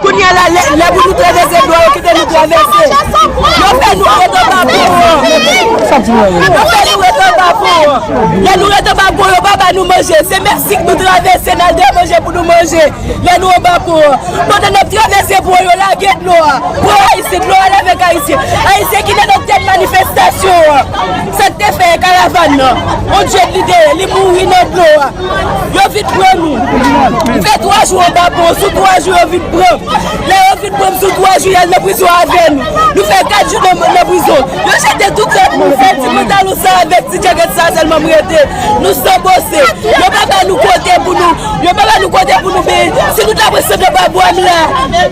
Kounya la lè pou nou trevese dlo yo kite nou travese yo fè nou ret anba pon an yo fè nou ret anba pon an lè nou ret anba pon yo pa ba nou manje se meksik nou travese nal gen manje pou nou manje lè nou anba pon an pandan nap travese pon an yo lage dlo a pran ayisyen dlo al avèk ayisyen ayisyen ki te nan tèt manifestasyon an sak te fè karavàn nan on djèt li te ye li mouri nan dlo a. Yo vin pran nou. M fè 3 jou anba pon. Sou 3 jou yo vin pran m. Lè yo vin pran m sou 3 jou y al nan prizon avè nou. Nou fè 4 jou nan prizon. Yo jete tout lòt moun. Sèl ti pantalon sa avèk ti djagèt sa sèlman m rete. Nou san bose. Yo pa ba nou kote pou nou. Yo pa ba nou kote pou nou be. Si nou ta pran sant anba bwa m la.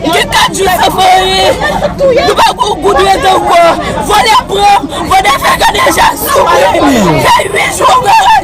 M gen 4 jou san fè anyen. Nou pa gon goud rete ankò. Vòlè pran m. Vòlè fè kaneja sou m. M fè 8 jou anba.